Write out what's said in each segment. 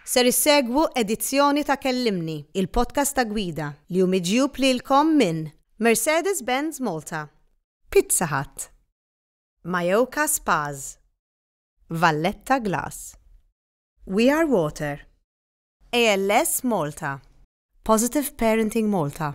Ser issegwu edizzjoni ta' Kellimni, il-podcast ta' gwida, li hu miġjub lilkom minn Mercedes-Benz Malta, Pizza Hut, Mayoka Spas, Valletta Glass, We Are Water, ALS Malta, Positive Parenting Malta,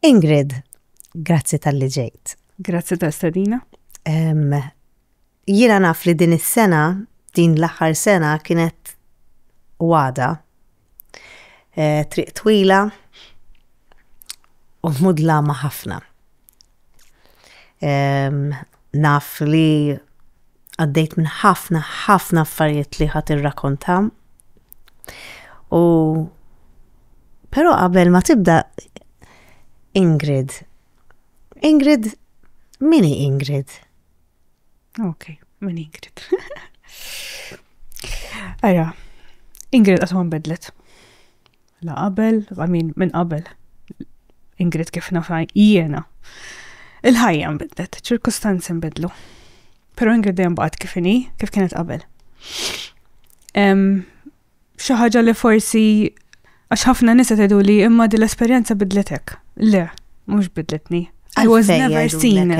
Ingrid, grazzi tal-li ġejt. Grazzi ta' stadina. Jiena naf li din is-sena, din l-aħħar sena kienet wada. Eh, triq twila u mudla ma' ħafna. Naf li għaddejt minn ħafna, ħafna affarijiet li ħat irrakonta. U pero qabel ma tibda Ingrid. Ingrid, mini Ingrid? Ok, mini Ingrid. Aja, Ingrid għatman bedlet. La qabel, I mean, minn qabel. Ingrid kif nafa jiena. Il-ħajja nbidlet, ċirkustanzi nbidlu. Pero Ingrid dejjem baqgħet kif inhi, kif kienet qabel. Xi ħaġa li forsi għax ħafna nisa tgħidu li imma din l-esperjenza bidletek. Le, mhux bidletni. I was never seen.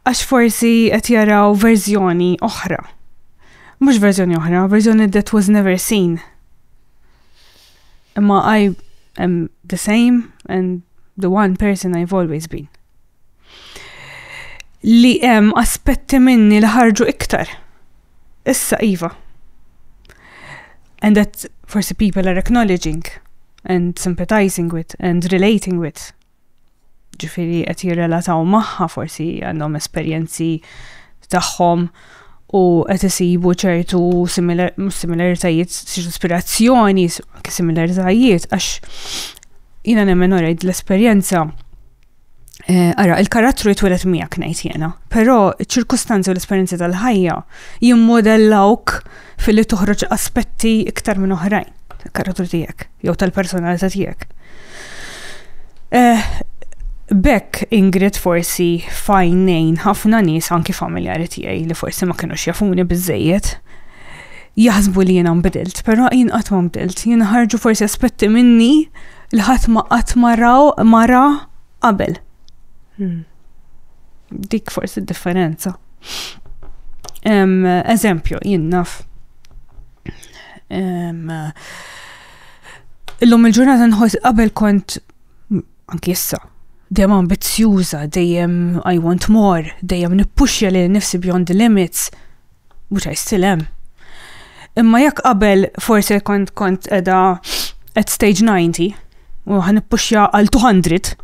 Għax forsi qed jaraw verżjoni oħra. Mhux verżjoni oħra, verżjoni that was never seen. Imma I am the same and the one person I've always been. Li hemm aspetti minni li ħarġu iktar. Issa iva. And that forsi people are acknowledging and sympathizing with and relating with ġifiri qed jirrelataw magħha forsi għandhom esperjenzi tagħhom u qed isibu ċertu similaritajiet, ċertu ispirazzjoni, similaritajiet, għax jina nemmen orajt l-esperjenza eh, Ara, il-karattru jitwelet miegħek ngħid jena, però ċ-ċirkustanzi u l-esperjenzi tal-ħajja jimmodellawk filli toħroġ aspetti iktar minn oħrajn tal-karattru tiegħek jew tal-personalità tiegħek. Eh, Bekk Ingrid forsi fajnejn ħafna nies anki familjari tiegħi li forsi ma kienux jafuni biżejjed jaħsbu li jiena nbidilt, però jien qatt ma nbidilt, jien ħarġu forsi aspetti minni li ħadd ma qatt maraw mara qabel. Hmm. Dik forsi differenza. Eżempju, jinnaf. Illum il-ġurnata nħos qabel kont anki issa dejjem ambizzjuża, dejjem I want more, dejjem nippuxja li nifsi beyond the limits. mhux ħajstilem. Imma jekk qabel forse kont kont edha at stage 90 u ħan ippuxja għal 200,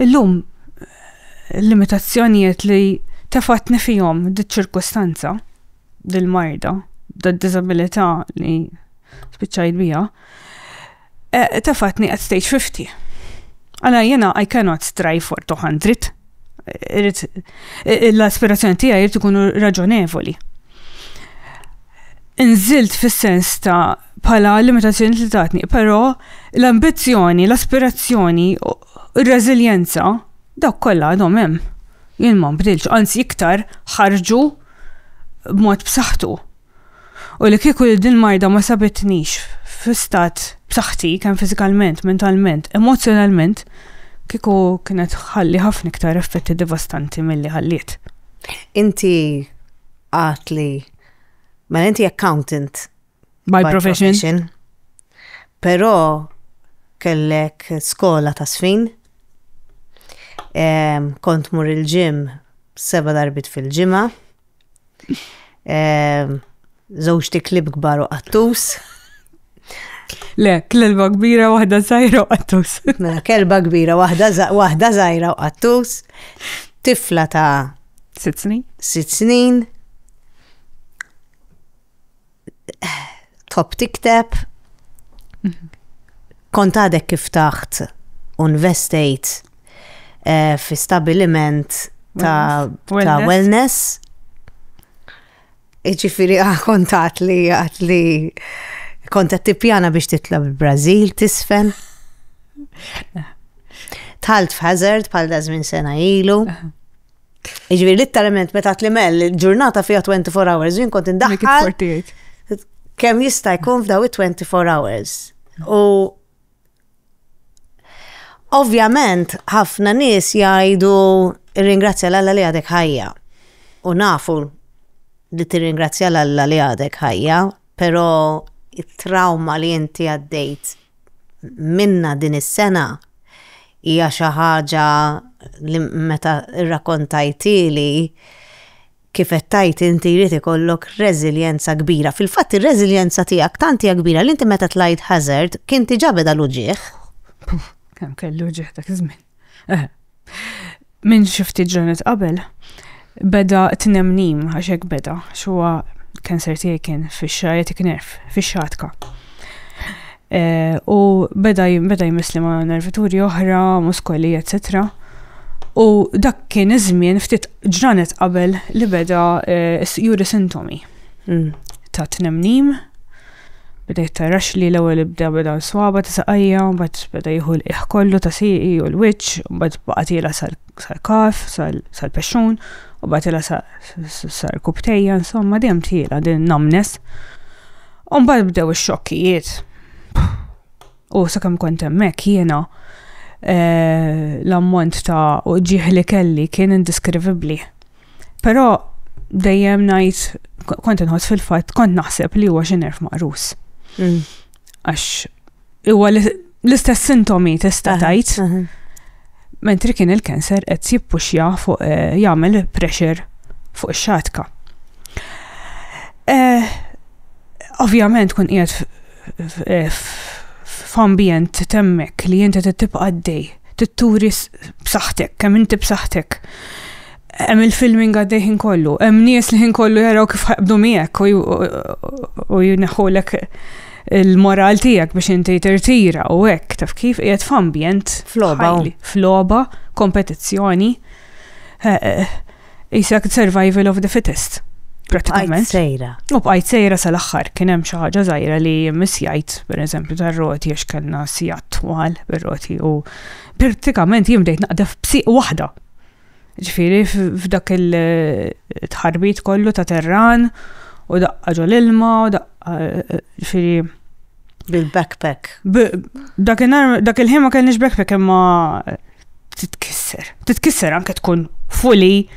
illum l-limitazzjonijiet li tefatni fihom diċ-ċirkustanza, dil-marda, dil-disabilità li spiċċajt bija, Eh, tefatni at stage 50. Għala jena I cannot strive for 200. Eh, l-aspirazzjoni tija jirtu kunu raġonevoli. Nżilt fis-sens ta' pala limitazzjoni li tatni, pero l-ambizjoni, l-aspirazzjoni, il-reżiljenza, dawk kollha għadhom hemm. Jien ma nbdilx, anzi iktar ħarġu b'mod b'saħħtu. U li kieku li din marda ma sabitnix fi stat b'saħħti kemm fiżikalment, mentalment, emozzjonalment, kieku kienet ħalli ħafna iktar effetti devastanti milli ħalliet. Inti għat li ma mela inti accountant by, by profession. profession. Però kellek skola ta' sfin, kont mur il-ġim seba darbit fil-ġimgħa, Żewġti eh, klib kbar u qattus. Le, kelba kbira waħda żgħira u qattus. Mela, kelba kbira waħda żgħira u qattus. Tifla ta' sitt snin. Sitt snin. top tikteb, mhm. kont għadek kif taħt unvestejt eh, fi stabiliment ta', wellness. Iġifiri ah, kont għat li għat li kont għat tipjana biex titla bil-Brazil tisfen. Tħalt f'hazard pal dażmin sena ilu. Iġviri, literalment, meta t-limel, ġurnata fija 24 hours, jien kont indaħħal. Kem jista' jkun f'daw 24 hours. U ovvjament, ħafna nies jgħidu ringrazzja l-alla li għadek ħajja. U nafu li tirringrazzja l-alla li għadek ħajja, pero it-trauma li inti għaddejt minnha din is-sena hija xi ħaġa li meta rrakontajtieli kif qed tgħid inti jrid ikollok reżiljenza kbira. Fil-fatt ir-reżiljenza tiegħek tant hija kbira li inti meta tlajt Hazard kien diġà beda l-uġigħ. Kemm kellu uġigħ dak iż-żmien. Minn xi ftit ġranet qabel beda tnemnim għax hekk beda xuwa kanser tiegħi kien fix-sciatic nerve, fix-xatka. Eh, u beda beda jmissli ma' nervituri oħra, muskoli, etc. U dak kien iż-żmien ftit ġranet qabel li beda eh, juri sintomi mm. ta' tnemnim Bdejt tarax li l-ewwel ibda beda l-swaba ta' saqajja, mbagħad beda jieħu l-qiegħ kollu ta' sieqi u l-wiċċ, mbagħad baqgħet ilha sal-kaf, sal-pexxun, u baqgħet ilha sar kubtejja, insomma dejjem tiela din namnes. U mbagħad bdew ix-xokkijiet. U sakemm kont hemmhekk jiena eh, l-ammont ta' uġieħ li kelli kien indiskrivibbli. Però dejjem ngħid kont inħoss fil-fatt kont naħseb li huwa xi nerf maqrus. Mm. Għax huwa l-istess sintomi tista' tajt. Mentri kien il-kanser qed jippuxja fuq eh, jagħmel pressure fuq ix-xatka. Eh, ovvjament kun qiegħed f'ambjent temmek li inti tibqa' għaddej, titturi b'saħħtek, kemm inti b'saħħtek. Hemm il-filming għaddej ħin kollu, hemm nies li ħin kollu jaraw kif ħaqbdu miegħek u jneħħulek il-moral tiegħek biex inti tirtira u hekk taf kif qiegħed f'ambjent f'logħba f'logħba kompetizzjoni eh, eh, Isek survival of the fittest. Pratikament. sejra. U bqajt sejra sal-axħar, kien hemm xi ħaġa żgħira li misjajt, per eżempju, tar-roti għax kellna sijat twal bir-roti u pratikament jien bdejt naqdef b'siq waħda. Ġifieri f'dak il-tħarbit kollu ta' terran u daqqa ġol ilma u daqqa ġifieri bil-backpack. Dak il-ħin ma kellniex backpack imma titkisser. Titkisser anke tkun fully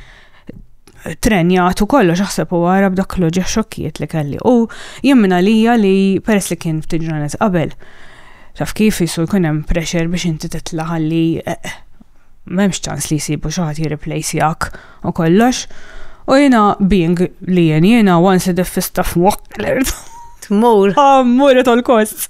trenjat u kollox aħseb u għara b'dak l-oġeħ xokkiet li kelli. U jemmina lija li peress li kien ftit ġranet qabel, taf kif jisu jkun hemm pressure biex inti titla' ħalli eh, eh, m'hemmx ċans li jsibu xi ħadd jirreplacjak u kollox. U jiena being li jien jiena once id-fista f'mokk. Tmur. Tmur it all costs.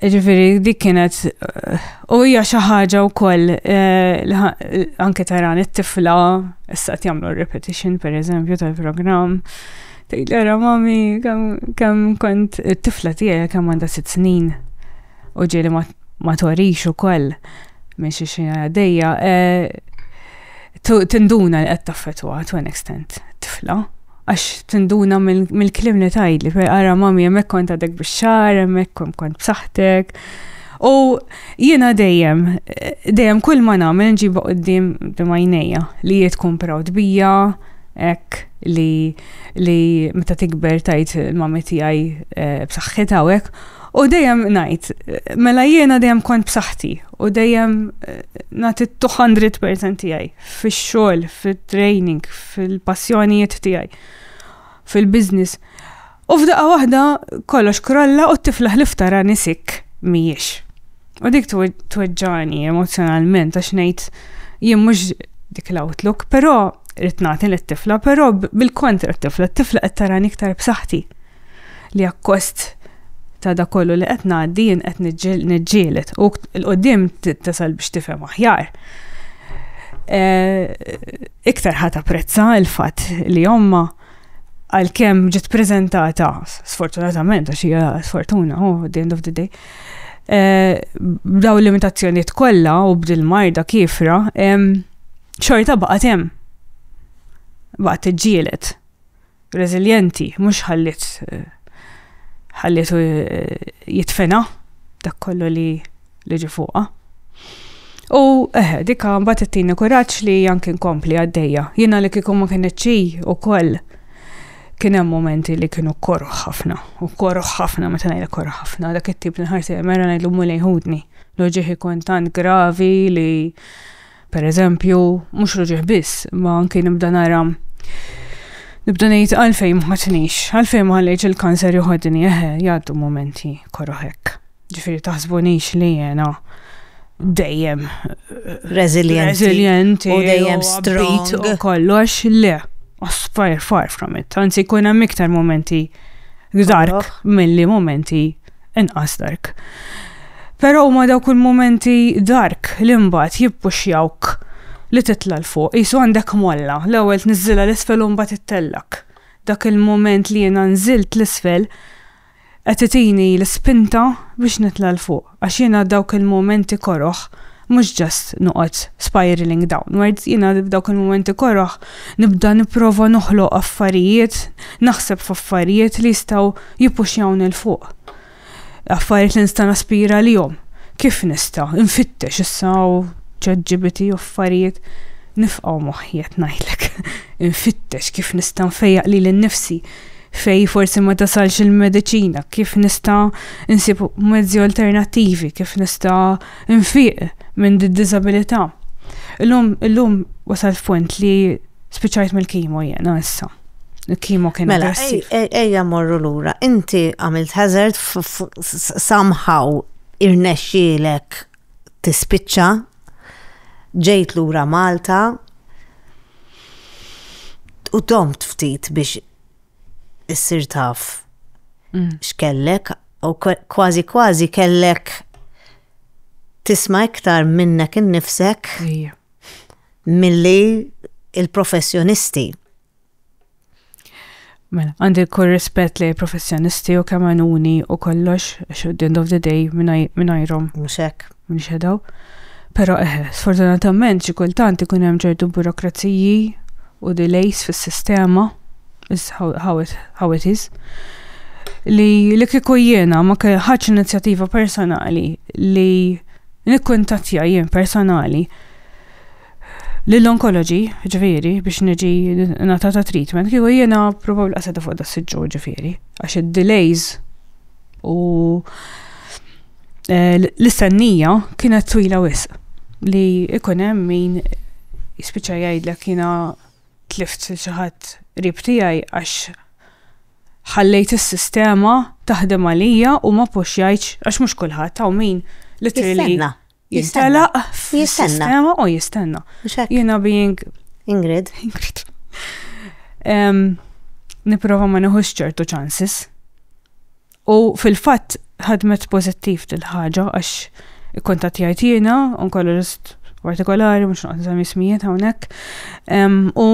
Ġifiri, dik kienet, eh, u hija xi ħaġa wkoll eh, anke taran it-tifla issa qed jagħmlu repetition pereżempju tal-programm. Tgħidlera mami kemm kont it-tifla tiegħi kemm għandha sitt snin u ġieli ma torix ukoll minn xi xi għaddejja eh, tinduna li qed taffetwa to an extent tifla. għax tinduna mill-klim li tajdli, fej għara mami jemmek kont għadek biex-xar, jemmek kont b'saħtek. U jiena dejjem, dejjem kull ma nagħmel nġiba qoddim b'majnejja li jiet tkun proud bija, ek li li meta tikber tajt il-mami tiegħi eh, b'saħħitha u hekk. U dejjem ngħid, mela jiena dejjem kont b'saħħti u dejjem eh, nagħti 200% tiegħi. fix-xogħol, fit-training, fil-passjonijiet tiegħi, fil-business. U f'daqqa waħda kollox krolla u t-tifla ħlif tara nisik mhijiex. U dik tweġġani emozjonalment għax ngħid jien mhux dik l-outlook, però rrid nagħti lit-tifla, però bil-kontra t-tifla, t-tifla qed tarani iktar b'saħħti. li akkost ta' da kollu li qed ngħaddi jien qed niġġieled u l-qudiem tasal biex tifhem aħjar. Eh, iktar ħat apprezza il-fatt li omma għal-kem ġit prezentata, sfortunatament, għax hija sfortuna, oh, the end of the day, eh, b'daw limitazzjoniet kollha u b'dil-marda kifra, xorta baqgħet hemm. Baqgħet tiġġielet. reżiljenti, mhux ħalliet ħallietu eh, jitfena dak kollu li li ġi fuqha. U eħe, eh, dika mbagħad ittini kuraġġ li anke nkompli għaddejja. Jiena li kieku ma kienet xi ukoll kien hemm momenti li kienu korħ ħafna, u korħ ħafna meta ngħidha korħ ħafna, dak it-tip li nħarsi mera ngħidlu mulej ħudni. Loġiħi kontant gravi li Per eżempju, mhux ruġieħ biss, ma anki nibda nara nibda ngħid għalfejn ma ħatnix, għalfejn ma ħallejx il-kanser joħodni, eħe, jgħaddu momenti koroħek. Ġifieri taħsbunix li jena dejjem resilient. Resilient u dejjem strong. U kollox le. Far, far from it. Anzi, kuna miktar momenti dark mill-li momenti inqas dark. Però huma dawk il-mumenti dark li mbagħad jippuxjawk li titla' 'l fuq. Qisu għandek molla, l-ewwel tniżżilha 'l isfel u mbagħad ittellgħek. Dak il-mument li jiena nżilt 'l isfel qed itini l-ispinta biex nitla' 'l fuq għax jiena dawk il-mumenti koroh. mhux ġast noqgħod spiraling downwards, jiena f'dawk il-mumenti koroh nibda nipprova noħloq affarijiet, naħseb f'affarijiet li jistgħu jippuxjawni 'l fuq. Affarijiet li nista' naspira għalihom. Kif nista'? Infittex issa u ChatGPT u affarijiet nifqgħu moħħi qed ngħidlek. Infittex kif nista' nfejjaq lili nnifsi fej forsi ma tasalx il-mediċina, kif nista' nsib mezzi alternattivi, kif nista' nfiq minn d-disabilità. Illum, illum wasal f'punt li spiċajt mill-kimo jena issa. Il-kimo kien Mela, ejja morru lura. Inti għamilt hazard somehow irnexxielek tispiċċa ġejt lura Malta u domt ftit biex issir taf mm. x'kellek u kważi kważi kellek tisma' iktar minnek innifsek milli il-professjonisti. Mela, għandi kull rispett li professjonisti u kamanuni u kollox, at the end of the day, minnajrom. Muxek. minn xedaw. Pero eħe, sfortunatament xi kultant ikun hemm ċertu burokraziji u delays fis-sistema, is how, how, it, how it is, li li kieku jiena ma ħadx inizjattiva personali li nikkuntattja jien personali l-onkoloġi, ġifieri, biex niġi natata treatment, kieku jiena probabbli qaseta fuq da s-siġġu ġifieri, għax id-delays u eh, l-istennija kienet twila wisq li ikun hemm min jispiċċa jgħidlek jiena tlift xi ħadd qrib tiegħi għax ħallejt is-sistema taħdem għalija u ma puxjajtx għax mhux kulħadd hawn min literally Jistenna. Jistenna. Jistenna u jistenna. Jiena being. Ingrid. Ingrid. Niprofa ma neħux ċertu ċansis. U fil-fatt ħadmet pozittiv dil-ħaġa għax ikkontat jgħid jiena, onkologist partikolari, mux naqt nżam jismijiet hawnhekk. U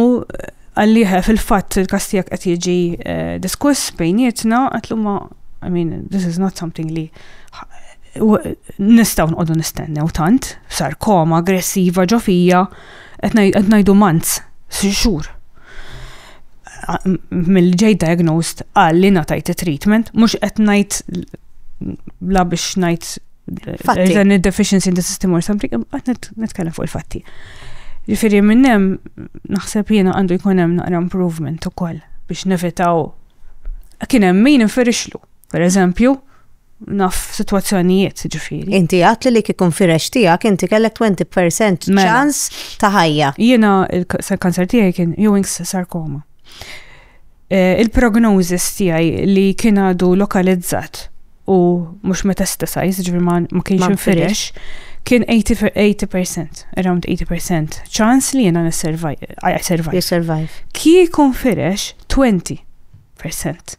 għalliħe fil-fatt il-kastijak qed jiġi eh, diskuss bejnietna, għatlu ma, I mean, this is not something li nistaw nqodu nistennew tant, sarkoma aggressiva ġo fija, qed ngħidu manz, xhur. Mill ġej diagnosed għalli natajt treatment, mhux qed ngħid la biex ngħid Fatti. Dan il-deficiency in the system or something, għat netkellem fuq il-fatti. Ġifiri minnem, naħseb jena għandu jkunem naqra improvement u koll biex nevitaw. Kienem min inferixlu. Per eżempju, naf situazzjonijiet ġifiri. Inti għat li li kikun firex tijak, inti kellek 20% mela. ċans ta' ħajja. Jena il-kanser tijaj kien Ewing's sarkoma. Eh, il-prognozis tijaj li kien għadu lokalizzat u mux metastasized, ġifiri ma kienx firex, kien 80%, around 80% ċans li jena n-survive. Kikun firex 20%.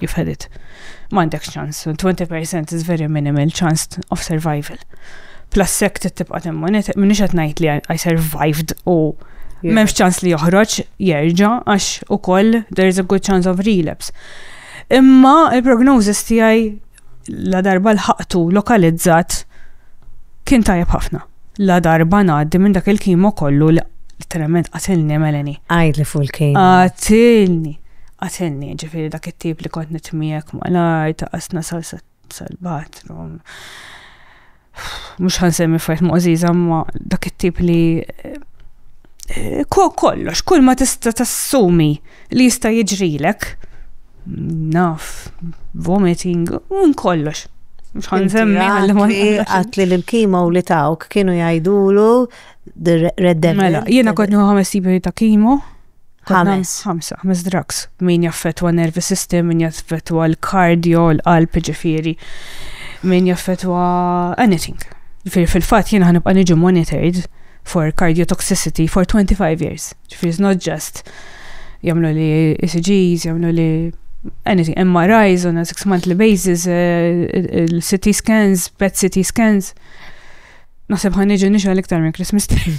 you've had it. M'għandek ċans, 20% is very minimal chance of survival. Plus sek tibqa' timmonita, minix qed ngħid li I survived u m'hemmx ċans li joħroġ jerġa' għax ukoll there is a good chance of relapse. Imma il-prognosis tiegħi la darba l-ħaqtu lokalizzat kien tajjeb ħafna. Ladarba ngħaddi minn dak il-kimo kollu li literalment qatilni Melanie. Għidli fuq il-kimo. Qatilni. Qatilni, ġifieri dak it-tip li kont nitmiegħek malaj ta' qasna salsa sal-bathroom. Mhux ħansemmi fajt moqżiża ma dak it-tip li eh, kollox, kull ma tista' tassumi li jista' jiġrilek. naf, vomiting, un kollox. Mxħan zemmi għalli ma għatli l-kima u li tawk kienu jajdulu reddem. Mela, jena kotni ħames tipi ta' kimo. Ħames. Ħamsa, ħames drugs. Min jaffetwa nervi system, min jaffetwa l-kardio, l-qalb ġifiri. Min jaffetwa anything. Fil-fat jena ħanibqa niġu monitored for cardiotoxicity for 25 years. Ġifri, it's not just jamlu li ECGs, jamlu li anything, MRIs on a six monthly basis, eh, CT scans, PET CT scans. Naħseb ħan iġi nixal iktar minn Christmas tree.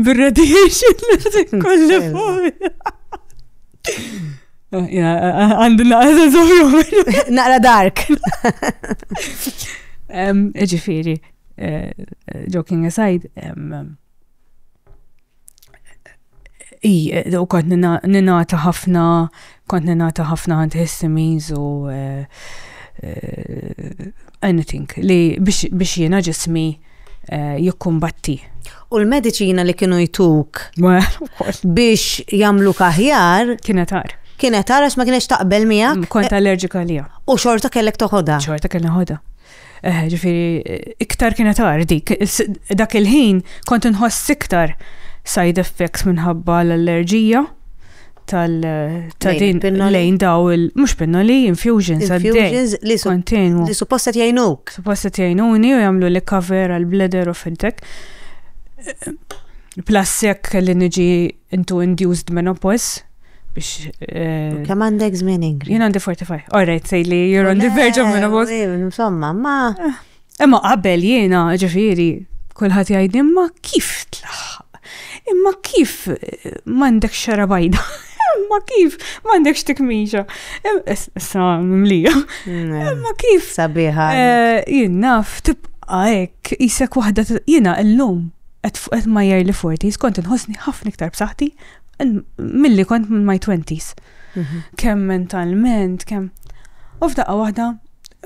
Bir-radiation li kolli fuq. Oh, għandu naqra zoħru. Naqra dark. Ġifiri, joking aside, u kont ninata ħafna, kont ninata ħafna antihistamines u eh, eh, anything li biex jiena ġismi eh, jikkumbatti. U l-medicina li kienu jtuk biex jamlu kaħjar. Kienet għar. Kienet għar għax ma kienx taqbel miegħek. Mm, kont allerġika li. U xorta kellek toħodha. Xorta kellek toħodha. Eh, ġifiri, iktar kienet ardi. Dak il-ħin kont nħoss iktar side effects minħabba l-allerġija tal-din lejn daw il- mux pinnoli, infusions Infusions li kontinu. Li supposta tjajnuk. Supposta tjajnuni u jamlu li cover għal-bladder u fil-tek. Plus jekk li niġi Intu induced menopause biex. Eh, Kemm għandek żmien ingri? Jien għandi 45. All right, say li you're on the verge of menopause. Insomma, ma. Eh, imma qabel jiena ġifieri kulħadd jgħid imma kif tlaħħaq? Imma kif eh, m'għandek xara bajda? ma kif, ma għandekx tikmiġa. Issa mlija. Ma kif. Sabiħa. Eh, jien naf tibqa ek, jisek wahda jina illum. qed ma' early 40s kont inħossni ħafna iktar b'saħħti milli kont minn my 20s. Mhm. Kemm mentalment, kemm. U f'daqqa waħda,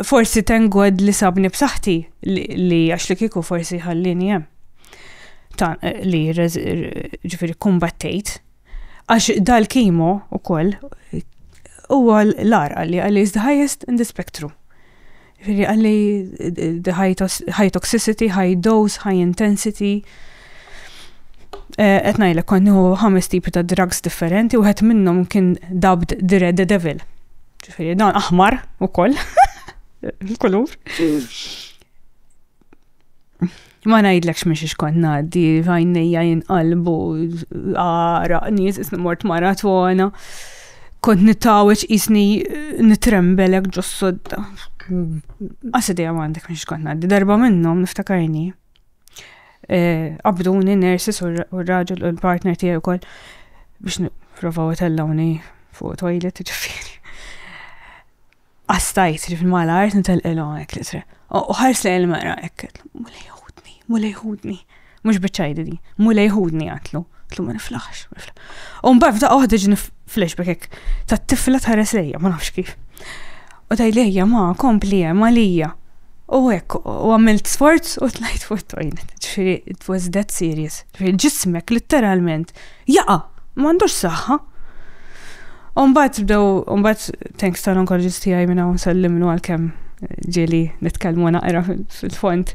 forsi tengod li sabni b'saħħti li għax li kieku forsi ħallini hemm. Eh, li ġifieri kumbattejt. Għax dal-kimo ukoll huwa l-ar għalli għalli is the highest in the spectrum. Ġifieri għalli the high toxicity, high dose, high intensity. Eh, qed ngħidlek konnu ħames tipi ta' drugs differenti u qed minnhom kien dubbed the red the devil. Ġifieri dan aħmar ukoll. Il-kulur. Ma ngħidlekx minn xiex kont ngħaddi, għajnejja jinqalbu, għara, nies isni mort maratona. Kont nittaweċ isni eh, nitrembelek ġo sodda. Għasi dejja ma għandek minn xiex kont ngħaddi, darba minnhom niftakarni. Eh, Abduni, nersis u r-raġel u l-partner tiegħi wkoll biex niprofaw tellawni fuq toilet ġifieri. Astajt li fil-malart nitalqilhom hekk li tre. U ħars lejn il-mera hekk. Mulej ħudni, mulej ħudni. Mhux biċċajdi di. Mulej ħudni għatlu. Tlu ma niflaħx. U mbagħad f'daqqa waħda ġini flashback hekk. Tat-tifla tħares lejja, ma nafx kif. U taj lejja ma kompli hemm għalija. U hekk, u għamilt sforz u tlajt fuq it-toilet. Ġifieri, it was that serious. Ġifieri, ġismek, letteralment, Jaqa! M'għandux saħħa. Umbagħad bdew umbagħad thanks tal-onkologist tiegħi minn hawn sellimlu għalkemm ġieli nitkellmu naqra fil-fond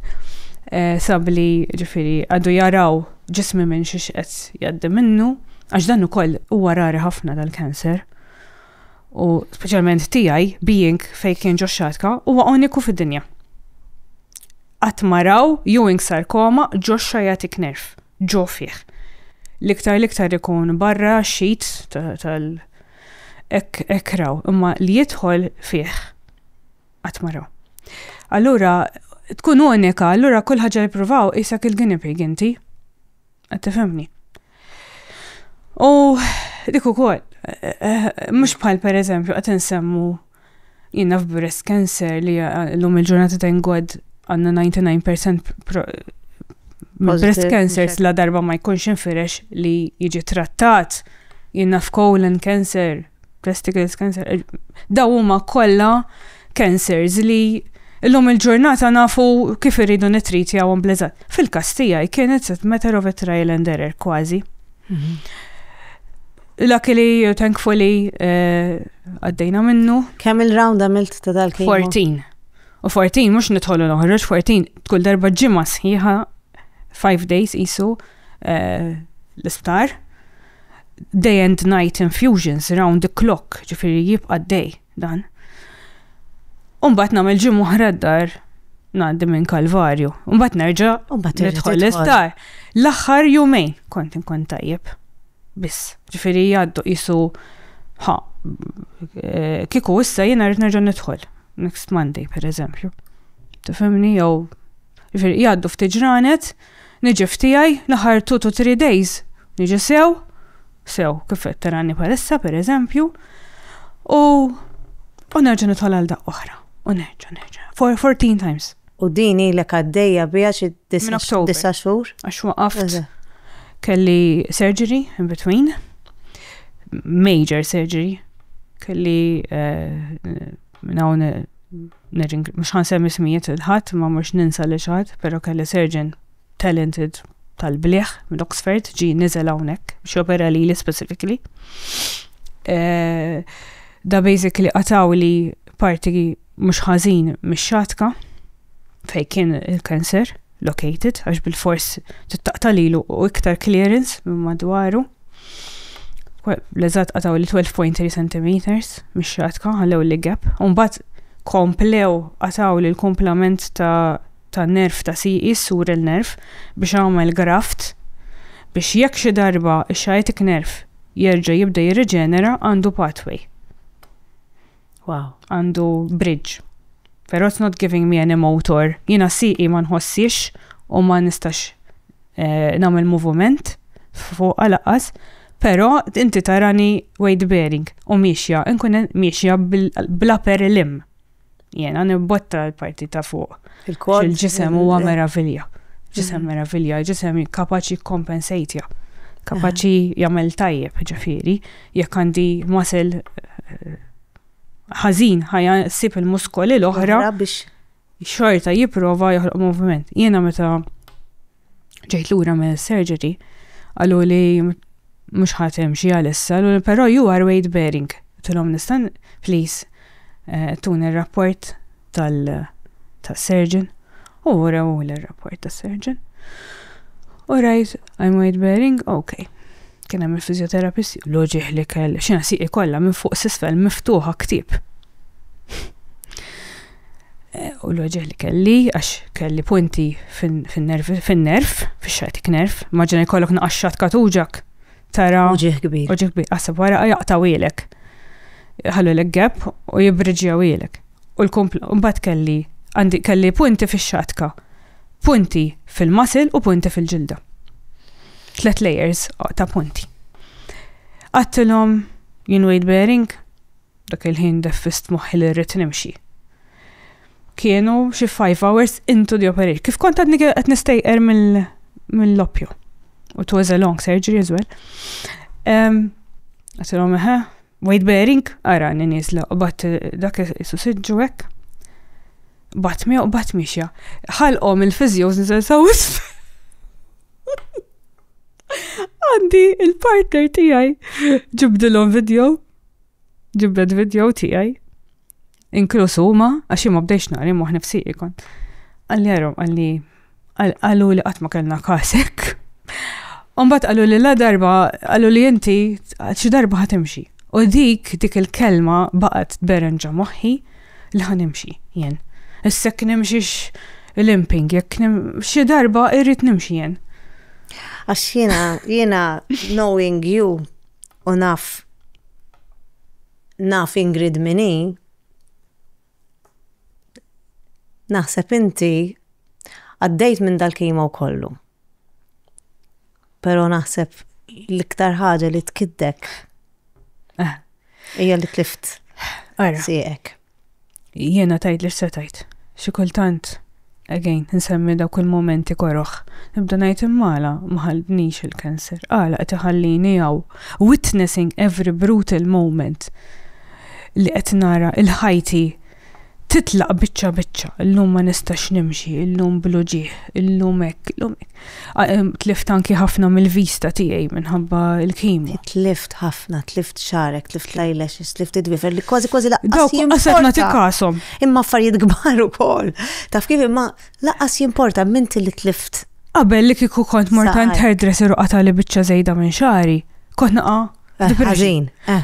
eh, sabli ġifieri għadu jaraw ġismi minn xi xqed jgħaddi minnu għax dan ukoll huwa rari ħafna dal-kanser. U speċjalment tiegħi being fejn kien ġo xatka huwa uniku fid-dinja. Qatt maraw ewing sarkoma ġo xajatik nerf. ġo fih. L-iktar l-iktar ikun barra xit tal ek ekraw, imma li jidħol fih qatt ma raw. Allura tkun unika, allura kull ħaġa li provaw isak il-guinea pig inti. Qed tifhimni. U dik ukoll, eh, eh, mhux bħal pereżempju qed insemmu Jien naf breast cancer li l-lum il-ġurnata ta' ingod għanna 99% breast cancer la darba ma jkunx infirex li jiġi trattat. Jien naf colon cancer, testicles cancer, eh, daw huma kollha cancers li l-lum il-ġurnata nafu kif irridu nitriti għawon blezat. Fil-kastija, kienet set matter of a trial and error kważi. Mhm. Luckily, uh, thankfully, uh, għaddejna minnu. Kemm il-round għamilt ta' dal 14. U 14, mux nitħollu noħroġ, 14, tkull darba ġimma sħiħa, 5 days isu uh, l-isptar. Day and night infusions round the clock, ġifiri jibqa day dan. Umbat namel ġim uħra d-dar, naddi minn kalvarju. Umbat nerġa, nitħol l-isptar. L-axħar jumejn kont inkun tajjeb. Biss, ġifiri jgħaddu jisu, ha, eh, kiku issa jena rrit nerġa nidħol, next Monday, per eżempju. Tifemni, jew, ġifiri jgħaddu ftiġranet, niġi ftijaj, laħar 2 to 3 days, niġi sew, sew, kifet terani palissa, per eżempju, u, u nerġa nidħol għal daqqa oħra, u nerġa, nerġa, 14 times. U din ilek għaddejja biha xi disa' xhur? Għax waqaft kelli surgery in between. Major surgery. Kelli eh, hawn mhux ħansemmi smijiet il-ħadd ma mhux ninsa li xaħat, però kelli surgeon talented tal-bliħ minn Oxford ġi niżel hawnhekk biex jopera li li specifically. Eh, da basically qataw li parti mhux ħażin mix-xatka fejn kien il-cancer located għax bil-fors tittaqta' lilu u iktar clearance minn madwaru. L-eżatt qataw li 12.3 cm mix-xatka ħallew li gap. Mbagħad komplew qataw li l-komplament ta' ta' nerf ta' siqi sur il-nerf biex għamel graft biex jekk xi darba x-sciatic nerf jerġa' jibda jirriġenera għandu pathway. Wow. Għandu bridge. Pero it's not giving me any motor. Jina siqi ma nħossix u ma nistax eh, namel movement fuq għalaqqas, pero inti tarani weight bearing u miexja, nkun miexja bla per lim. Jena nibbotta l-parti ta' fuq. Il-kod. Il-ġisem huwa meravilja. Ġisem mm. meravilja, ġisem kapaċi kompensatja. Kapaċi jamel tajjeb ġifiri. Jekk għandi muscle ħażin ħajja ssib il-muskoli l-oħra biex xorta jipprova joħloq moviment. Jiena meta ġejt lura minn surgery għallu li mhux ħatem xi għalissa, però you are weight bearing. Tilhom nistan, please, eh, tun ir-rapport tal-surgeon u rew l-rapport tas-surgeon. All right, I'm weight bearing, okay. Kien hemm il-fiżjoterapisti, loġi ħlikel, xi nasiqi kollha minn fuq s'isfel miftuħa ktieb. Eh, u loġi li kelli, għax kelli punti fin-nerv, fin-nerv, fix-xatik nerv, maġna jkollok naqaxxat katuġak. Tara. Uġiħ kbir. Uġiħ kbir, għasab wara jaqtaw ilek. Ħallu l-gap u jibbriġjaw ilek. u l-kumpla u mbagħad kelli għandi kelli punti fix-xatka, punti fil-muscle u punti fil-ġilda. Tlet layers ta' punti. Għattilhom jien weight bearing, dak il-ħin defist moħħi li rrid nimxi. Kienu xi 5 hours into the operation. Kif kont għadni qed nistejqer mill-loppju. U it was a long surgery as well. Għattilhom eħe, Weight bearing, ara ni nizla, u bat dak isu sidġu hekk. Bat mi u bat mixja. Ħalqhom il-fizjoż nizel saw Għandi il-partner tiegħi ġibdilhom video. Ġibdet video tiegħi. Inkluż huma, għax imma bdejx nari moħ nifsiri kont. Għalli għarom, għalli għallu li qatt ma kellna kasek. Umbat għallu li la darba, għallu li inti xi darba ħatimxi. U dik dik il-kelma baqgħet tberenġa moħħi li ħanimxi jien. Issa kien nimxiex limping, jekk xi darba irrid nimxi jien. Għax jiena jiena knowing you u naf Naf Ingrid min hi. Naħseb inti għaddejt minn dal-kimow kollu. Però naħseb l-iktar ħaġa li tkiddek hija li tlift sieqek. Jiena tajt li x'setajt. Xi kultant, again, insemmi dawk il-momenti koroh. Nibda ngħid immala ma ħalltnix il-cancer, għala qed iħallini hawn witnessing every brutal moment li qed nara il-ħajti titlaq biċċa biċċa, illum ma nistax nimxi, illum bl-uġigħ, illum hekk, illum hekk. Tlift anki ħafna mill-vista tiegħi minħabba l-kimu. Tlift ħafna, tlift xarek, tlift lajlex, tlift id-wifer li kważi kważi laqqas. Dawk jimqasab nagħti kasom. Imma affarijiet kbar ukoll. Taf kif imma laqqas jimporta minn li tlift. Qabel li kieku kont mortant hairdresser u qatali biċċa żejda minn xari, kont naqa' eh, ħażin. Eh.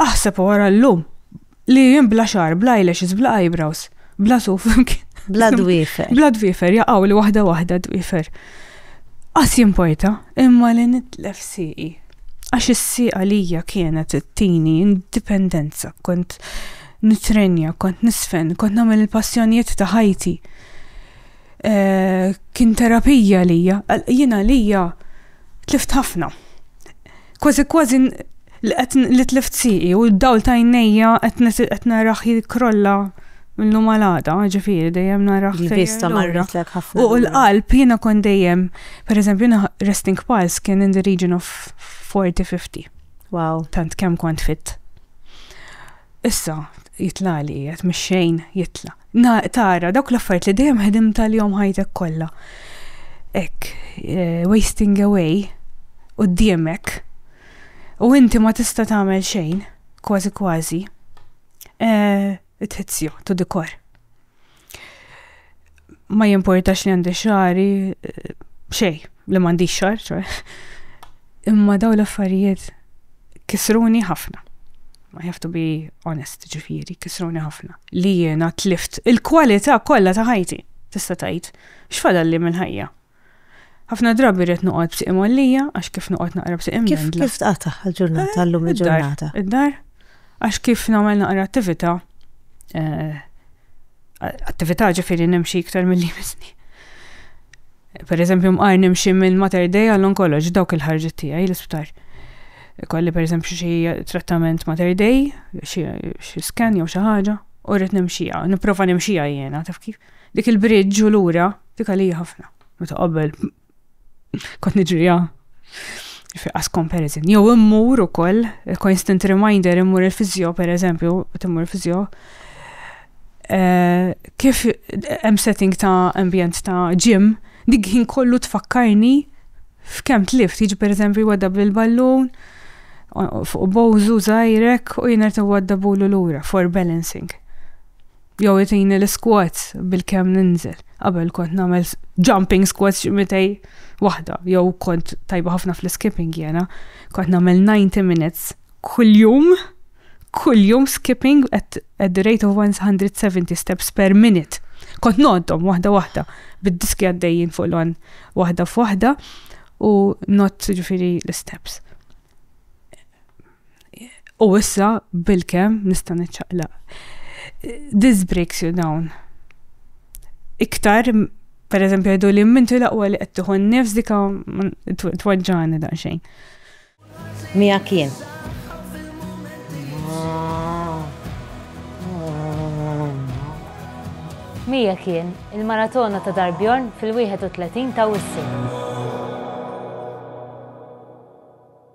Aħseb wara llum Li jien bla xar, bla eyelashes, bla eyebrows, bla suf. Bla dwifer. Bla dwifer, jaqaw li wahda wahda dwifer. Għas jimporta, imma li nitlef siqi. Għax is-siqa lija kienet it-tini indipendenza, kont nitrenja, kont nisfen, kont namel il-passjonijiet ta' ħajti. Eh, kien terapija lija, jina lija tlift ħafna. Kważi kważi li tlift siqi u d-dawl ta' jnejja qed naraħ jikrolla minnu malada, ġifiri, dejjem naraħ. Vista marret l ħafna. U l-qalb jina kon dejjem, per eżempju, resting pulse kien in the region of 40-50. Wow. Tant kem kont fit. Issa, jitlali, jgħat mxejn jitla. Na, tara, dawk l-affarijiet li dejjem ħedimt għalihom ħajtek kollha. Ek, eh, wasting away, u d-diemek, u inti ma tista' tagħmel xejn, kważi kważi, eh, tħezzju, tu dikor. Ma jimportax li għandi xari, eh, xej, li m'għandix xar, Imma daw l-affarijiet kisruni ħafna. I have to be honest, ġifiri, kisruni ħafna. Li jiena tlift il-kwalità kollha ta' ħajti, tista' tgħid, x'fadal li minn ħajja. Ħafna drabi rrid noqgħod b'siq imollija għax kif noqgħod naqra b'siq imdendla. Kif kif tqata' ġurnata eh, llum il-ġurnata? Id-dar. Għax kif nagħmel naqra attività eh, attività ġifiri nimxi iktar mill-li misni. Per eżempju, mqar nimxi minn Mater Dei għall-onkoloġ dawk il-ħarġet tiegħi l-isptar. Kolli per eżempju xi trattament Mater Dei, xi scan jew xi ħaġa, u rrid nimxija, nipprova nimxija jiena, taf kif. Dik il-bridġ u lura, dik għalija ħafna. Meta qabel Kont niġrija fi qas comparison. Jew immur ukoll, constant reminder immur il-fizjo, per eżempju, timmur il-fizjo, eh, kif hemm setting ta' ambjent ta' gym, dik ħin kollu tfakkarni f'kemm tlift, jiġi per eżempju jwadda bil-ballun, fuq bowżu zaħirek u jiner t-wadda bulu l-ura for balancing. Jew itini l-squats bil-kem ninżel. Qabel kont namel jumping squats ximitej wahda. Jew kont tajba ħafna fl-skipping jena. Kont namel 90 minutes kull jum. Kull jum skipping at, at the rate of 170 steps per minute. Kont noddom wahda wahda. Bid-diski għaddejjin fuq l-on wahda f'wahda u not ġifiri l-steps. U issa bil-kem nista' niċċaqlaq. This breaks you down. Iktar, per eżempju, għedu li mintu laqwa li qed tieħu n-nifs dika twaġġani daqsxejn. Mija kien. Mija kien il-maratona ta' Darbjorn fil-31 ta' Wissi.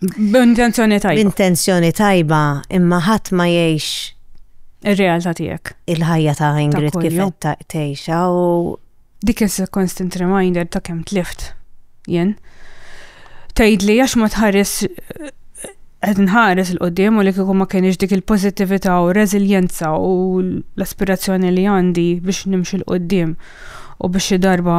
B'intenzjoni tajba. B'intenzjoni tajba, imma ħadd ma jgħix ir-realtà tiegħek. Il-ħajja ta' Ingrid kif tgħixha u dik is constant reminder ta' kemm tlift jien. Tgħidli għax ma tħares qed nħares il qoddim u li kieku ma kienx dik il-pożittività u reżiljenza u l-aspirazzjoni li għandi biex nimxi l qoddim u biex xi darba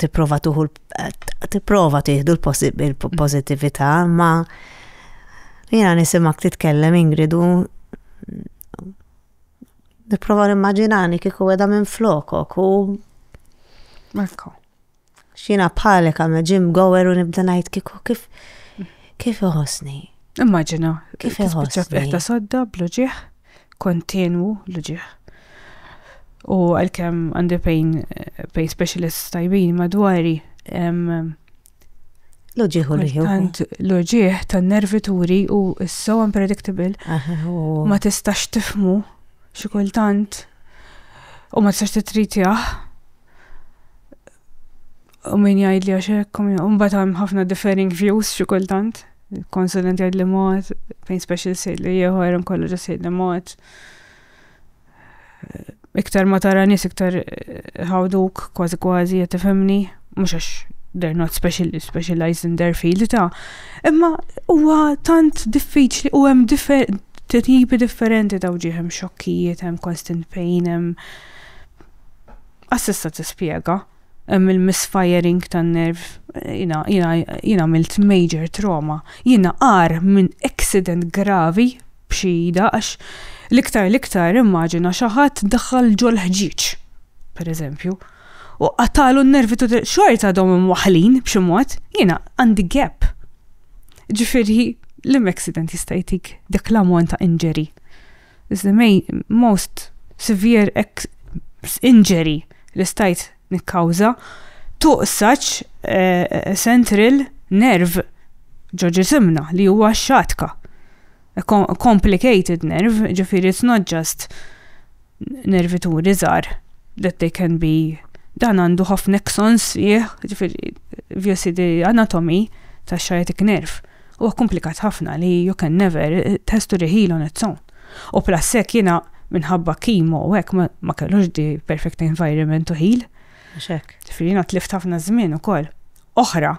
tipprova tuħu tipprova tieħdu l-pożittività, ma jiena nisimak titkellem ingridu nipprova nimmaġinani kieku għedha minn flokok u Marko. Xina bħalek għamna ġim gower u nibda ngħid kieku kif kif iħossni. Immaġina, kif iħossni. Kif sodda, bluġieħ. kontinwu l-uġieħ. U għalkemm għandi pain, pain specialist tajbin madwari, L-uġieħ u l-ħjuħ. Tant l-uġieħ tan nervi turi u so unpredictable. Ma tistax tifmu xi kultant u ma tistax titritjah. U min jgħid li għax hekk, mbagħad hemm ħafna differing views xi kultant. Konsulent jgħid li mod, pain special sejt li ieħor, kollu ġa sejt li mod. Eh, iktar ma tara nies iktar eh, ħawduk kważi kważi qed tifhimni, mhux għax they're not special, specialized in their field ta' imma huwa tant diffiċli u hemm tipi differenti ta' wġieħ hemm xokkijiet, hemm constant pain, hemm assista tispjega. Hemm il-misfiring tan-nerv. Jiena, jiena, jien għamilt major trauma. Jiena agħar minn accident gravi b'xi ida għax l-iktar l-iktar immaġina xi ħadd daħħal ġol-ħġieġ, per eżempju, u qatagħlu n-nervi tut il-, xorta għadhom imwaħħlin b'xi mod, jiena għandi gap. Ġifieri, liema accident jista' jtik dak l-ammont ta' injury? is the main, most severe injury li stajt nikkawża to such uh, central nerve ġo ġisimna li huwa xatka. A complicated nerve, ġifiri it's not just nervi tu rizar that they can be dan għandu ħafna nexons jieħ, ġifiri, vjosi di anatomi ta' xajetik nerve. Huwa komplikat ħafna li you can never, it has to reheal on its own. U plus hekk jiena minħabba chemo u hekk ma kellux the perfect environment to heal. Mhux hekk. Ġifieri jiena tlift ħafna żmien ukoll. Oħra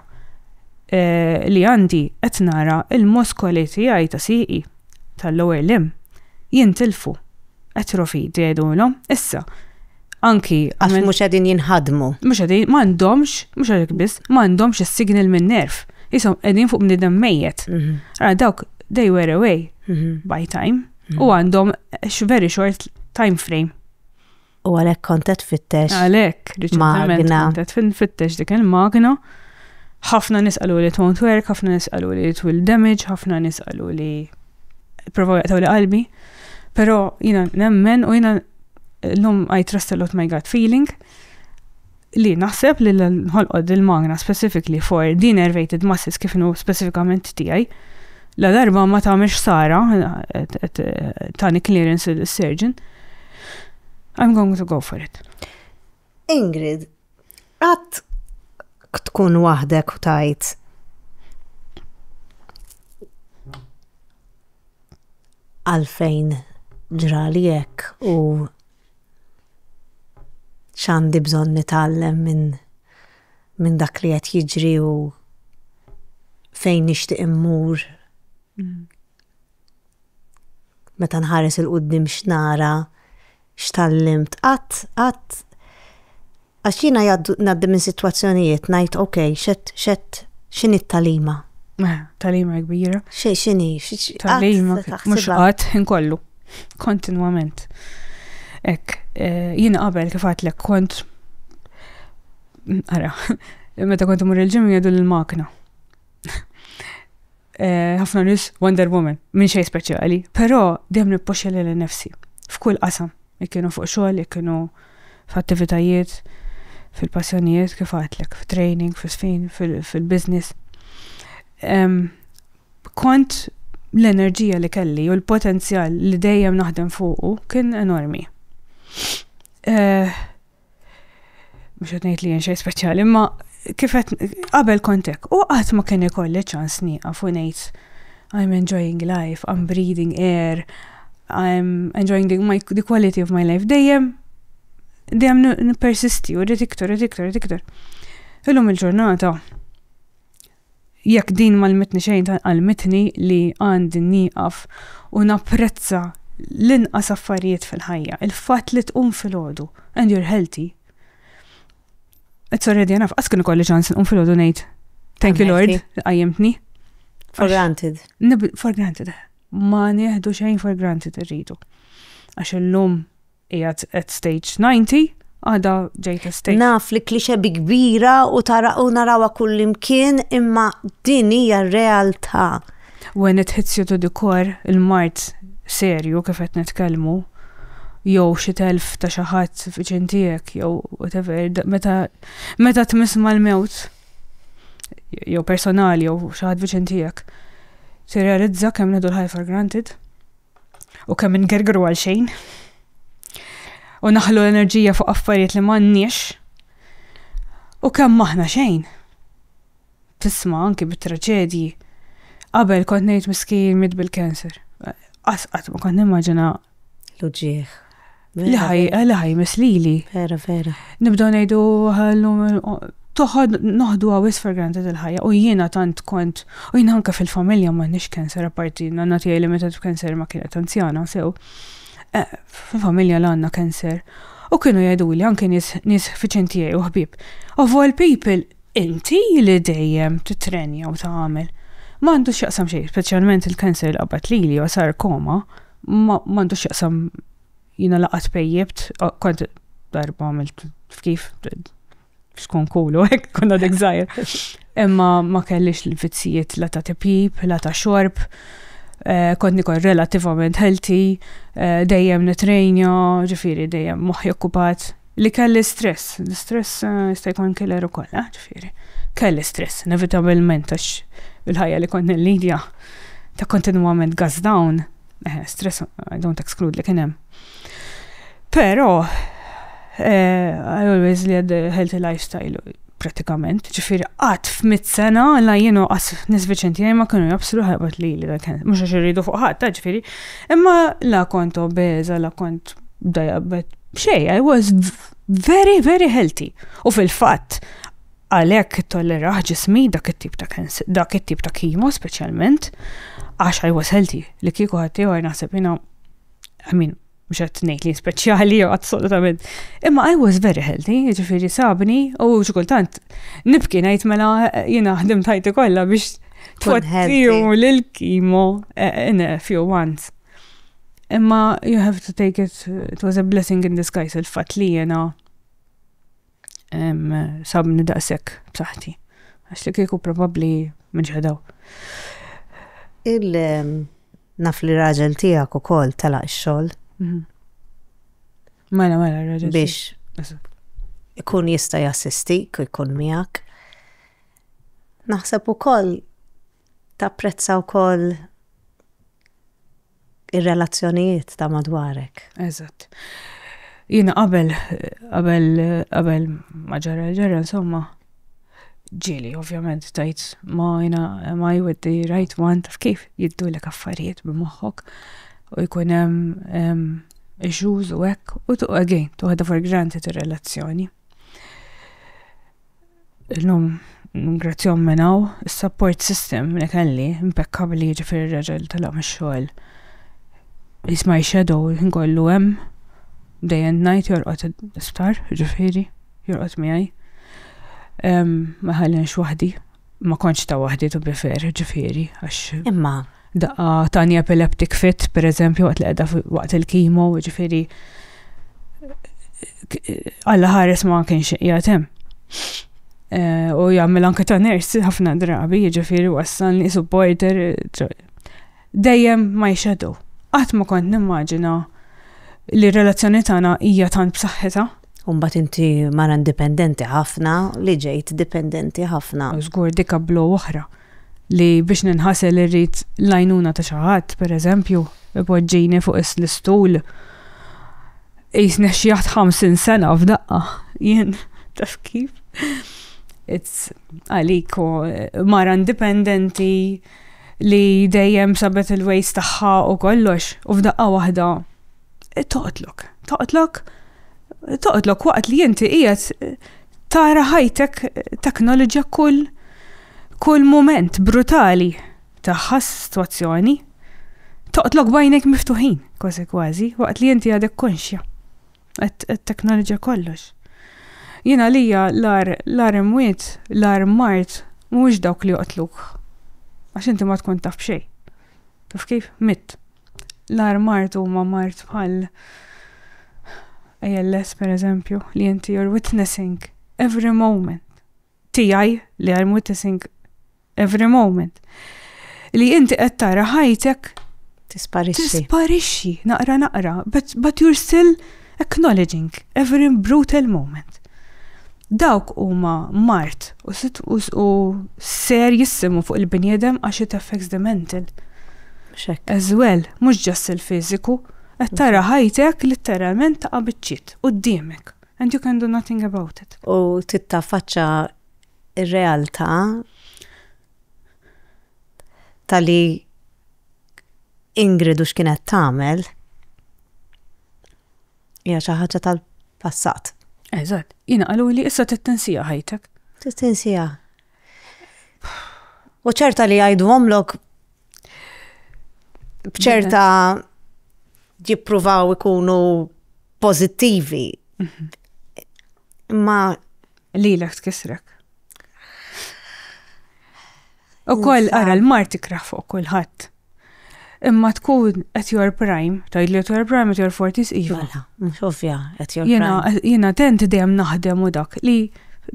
li għandi qed nara l-muskoli tiegħi ta' sieqi, tal-lower limb, jintilfu. Atrophy jgħidulhom issa. Anki. Għax mhux qegħdin jinħadmu. Mhux qegħdin, ma għandhomx, mhux għalhekk biss, ma għandhomx is-signal minn nerv. Isom qegħdin fuq bniedem mejjet. Mhm. Ara dawk they were away mhm. by time mhm. u għandhom very short time frame. U għalhekk kontet fittex. Għalhekk, riċentement kontet fittex dik il-magna. ħafna nisqalu li tont work, ħafna nisqalu li it will damage, ħafna nisqalu li provaw jaqtaw li qalbi. Pero jina nemmen u jina l-lum I trust a lot my gut feeling li naħseb li l-ħolqod il-magna specifically for din ervated masses kif nu specifikament tijaj la darba ma tamiex sara tani clearance il-surgeon I'm going to go for it. Ingrid, qatt tkun waħdek u tajt għalfejn ġrali hekk u x'għandi bżonn nitgħallem minn min dak li qed jiġri u fejn nixtieq immur. Mm. Meta nħares 'il quddiem x'nara, x'tgħallimt, qatt, qatt, għax jiena ngħaddi minn sitwazzjonijiet ngħid ok, x'qed, x'qed, x'inhi t-tagħlima? Tagħlima kbira. X'inhi? Tagħlima mhux qatt inkollu, kontinwament. Ek, eh, jiena qabel kif għatlek kont, ara, meta kont imur il-ġim jgħidu l-makna. Eh, ħafna uh, nis Wonder Woman, minn xej speċjali, però dem nippoxxa lil nefsi f'kull qasam, ikkinu fuq xogħol, ikkinu f'attivitajiet, fil-passjonijiet kif għatlek, f'training, fil-sfin, fil-business. Um, kont l-enerġija li kelli u l-potenzjal li dejjem naħdem fuqu kien enormi. Uh, Mhux qed ngħid li jien xejn speċjali, imma kif qed qabel kontek u qatt ma kien ikolli ċans nieqaf u ngħid I'm enjoying life, I'm breathing air, I'm enjoying the, my, the quality of my life. Dejjem, dejjem n-persisti, u rrit iktar, rrit iktar, rrit iktar. Illum il-ġurnata, Jekk din m'għallmitni xejn għallmitni li għandi nieqaf u napprezza l-inqas affarijiet fil-ħajja, il-fatt li tqum filgħodu and you're healthy. It's already enough. Qas kien ikolli ċans nqum filgħodu ngħid thank you Lord qajjimtni. For granted. For granted. Ma nieħdu xejn for granted irridu. Għax illum Qiegħed at stage 90, għada ġejt at stage. Naf li klixe bi kbira u tara u narawa kullimkien imma din hija r-realtà. When it hits you to the core, il-mart serju kif qed nitkellmu, jew xi telf ta' xi ħadd viċin tiegħek jew whatever, meta meta tmiss mal-mewt jew personali jew xi ħadd viċin tiegħek, tirrealizza kemm nieħdu l-ħajja for granted. u kemm ingergru għal xejn u naħlu l-enerġija fuq affarijiet li m'għandniex u kemm maħna xejn. Tisma' anki bit-traġedji. Qabel kont ngħid miskijin mit bil-cancer. Asqat ma kont nimmaġina l-uġieħ. Li ħaj, li ħaj mislili. Vera, vera. Nibdaw nejdu għallum, toħod noħdu għawis for granted il-ħajja u jiena tant kont u jiena anka fil-familja ma nix kanser apparti nanna tijaj li meta kanser ma kienet anzjana sew eh, fil-familja l-għanna kanser u kienu jgħidu li anke nis fiċin tijaj u ħbib of all people inti li dejjem titrenja u ta' għamil ma għandu xaqsam xej, specialment il-kanser l-qabat li li sarkoma ma għandu xaqsam Jina laqat pejjibt, kont darba għamilt f'kif, xkun kulu, ek konna dik zaħir. Imma ma kellix l-vizzijiet la ta' tipjib, la ta' xorb, eh, kont nikol relativament healthy, eh, dejjem nitrejnja, ġifiri dejjem moħi okkupat. Li kelli stress, l-stress eh, jista' jkun killer ukoll, ġifiri. Kelli stress, inevitabilment għax il-ħajja li kont nil-lidja ta' kontinuament gas down. Eħe, stress, I don't exclude li kien hemm. Però, eh, I always led a healthy lifestyle, pratikament, ġifiri qatt f'mit sena la jienu qas nis Viċenti ma kienu jabsru ħajbot li li kien, mux għax irridu fuq ħadd, ġifiri, imma la kont obeza, la kont dajabet, xej, I was very, very healthy. U fil-fatt, Għalhekk ittollerah ġismi dak it-tip ta' dak it-tip ta' kimo speċjalment għax I was healthy li kieku ħaddieħor naħseb jiena I mean mhux qed ngħid li speċjali assolutament. Imma I was very healthy, jiġifieri sabni u xi kultant nibki ngħid mela jiena ħdim tajti kollha biex tfottiju l-kimo eh, in a few months. Imma you have to take it, it was a blessing in disguise il-fat li jena sabni daqshekk b'saħħti. Għax li kieku probabbli minġħedaw. Il naf li raġel tiegħek ukoll telaq ix-xogħol. Mhm. Mela, mela, raġel. Biex ikun jista' jassistik u jkun miegħek. Naħseb ukoll tapprezza wkoll ir-relazzjonijiet ta' madwarek. Eżatt. Jiena qabel, qabel, qabel ma ġara ġara, insomma, ġili, ovvjament, tajt ma jina, ma with the right one, taf kif jiddu l affarijiet b'moħħok u jkun hemm issues u hekk, u tu again, tuħda for granted ir-relazzjoni. Illum ngrazzjom minn hawn is-support system li kelli impeccabli ġifir ir-raġel telaq mix-xogħol. He's my shadow kollu hemm day and night jorqod isptar ġifiri jorqod miegħi. Ma ħallinx waħdi. Ma kontx ta' waħdi to be fair, ġifieri, għax. Imma. Daqqa tani epileptic fit, per eżempju, waqt li qiegħda waqt il-kimo, ġifieri. Alla ħares ma kienx qiegħed hemm. Eh, u jagħmel anke ta' ners ħafna drabi, ġifieri wassalni supporter. Dejjem ma jxedu. Qatt ma kont nimmaġina li r-relazzjoni tagħna hija tant b'saħħitha. U mbagħad inti mara indipendenti ħafna li ġejt dipendenti ħafna. Żgur dik ablow oħra li biex ninħasel irrid l-għajnuna ta' xi ħadd, pereżempju, ipoġġini fuq l-istul. Qisni ħxieħt 50 sena f'daqqa jien, taf kif? It's għalik u mara indipendenti li dejjem sabet il-ways tagħha u kollox u f'daqqa waħda. toqtlok, toqtlok, toqtlok waqt li inti qiegħed eh, tara ħajtek eh, teknoloġja kull kull moment brutali tagħha situazzjoni. Toqtlok bajnek miftuħin, kważi kważi, waqt li inti għadek konxja. Għat-teknoloġja kollox. Jina lija l-ar imwiet, l-ar mart, mux dawk li joqtluk. Għax inti ma tkun taf xej. Kif kif? Mit. l-ar mart huma mart bħal ALS per eżempju, li inti you're witnessing every moment. Tijaj li I'm witnessing every moment. Li inti qed tara ħajtek tisparixxi. Tisparixxi, naqra naqra, but, but you're still Acknowledging every brutal moment. Dawk huma mart u serjissimu fuq il-bniedem għax it affects the mental. As well, mhux just il-fiżiku. Qed tara ħajtek litteralment taqa' biċċiet quddiemek and you can do nothing about it. U tittaffaċċa r-realtà ta' li Ingrid u x'kienet tagħmel hija xi ħaġa tal-passat. Eżatt, jiena qalu li issa trid tinsija ħajtek. Trid tinsija. U ċerta li jgħidu omlok bċerta jippruvaw ikunu pozittivi. Mhm. Ma li l tkisrek. U koll ara l-mar tikraħ fuq kulħadd. Imma tkun at your prime, tajd li at your prime, at your 40s iva. Mela, mux ovvja, at your prime. Jena tent dem naħdem u dak li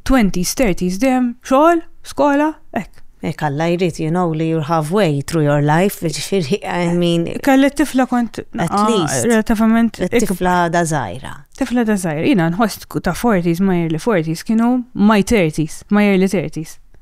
20s, 30s dem, xogħol, skola, ek. Ek għalla jrid, you know, li you're halfway through your life, ġifiri, I mean. Kalli tifla kont. At ah, least. Relativament. Tifla da zaħira. Tifla da zaħira. Jena nħost ta' 40s, ma jirli 40s, kienu my 30s, ma jirli 30s.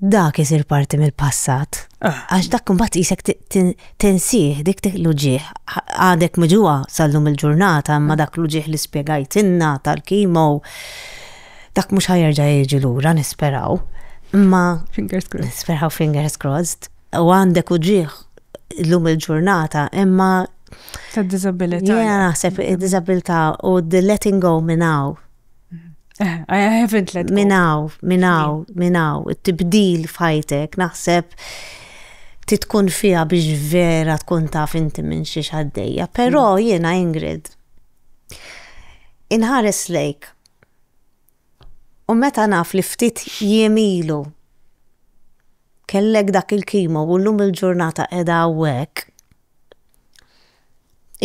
dak isir parti mill-passat. Ah. Għax dak imbagħad isek tinsih dik dik l-uġieħ. Għadek miġuha sal-lum il-ġurnata imma dak l-uġieħ li spjegajtinna tal-kimo dak mhux ħajerġa' jiġi lura nisperaw. Imma fingers crossed. Nisperaw fingers crossed. U għandek uġieħ l-lum il-ġurnata imma ta' disabilità. Jena naħseb disabilità u the letting go minnaw I haven't let go. Minaw, minaw, minaw, tibdil fajtek, naħseb titkun fija biex vera tkun taf inti minn xi xaddejja. Però mm. jiena Ingrid, inħares lejk. U meta naf li ftit jemilu kellek dak il-kimo u llum il-ġurnata qiegħda hawnhekk,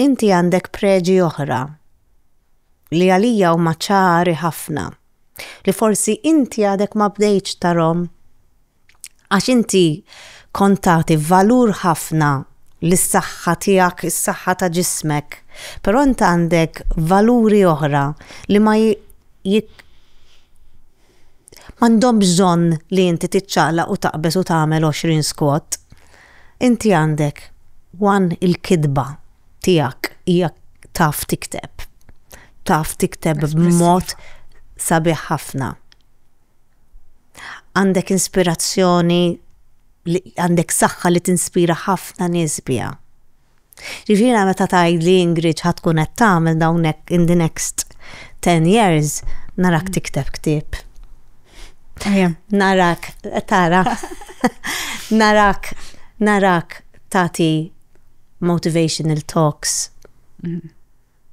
inti għandek preġi oħra li għalija huma ċari ħafna li forsi inti għadek ma bdejtx tarhom għax inti kont tagħti valur ħafna lis-saħħa tiegħek, is-saħħa ta' ġismek, però int għandek valuri oħra li ma M'għandhom bżonn li inti tiċċaqlaq u taqbeż u tagħmel għoxrin squat. Inti għandek one il-kitba tiegħek hija taf tikteb. Taf tikteb b'mod sabiħ ħafna. Għandek inspirazzjoni għandek saħħa li tinspira ħafna nies biha. Jiġifieri meta tgħidli Ingrid x'ħa tkun qed tagħmel dawn hekk in the next ten years, narak tikteb ktieb. Narak, tara, narak, narak tagħti motivational talks. Mhm.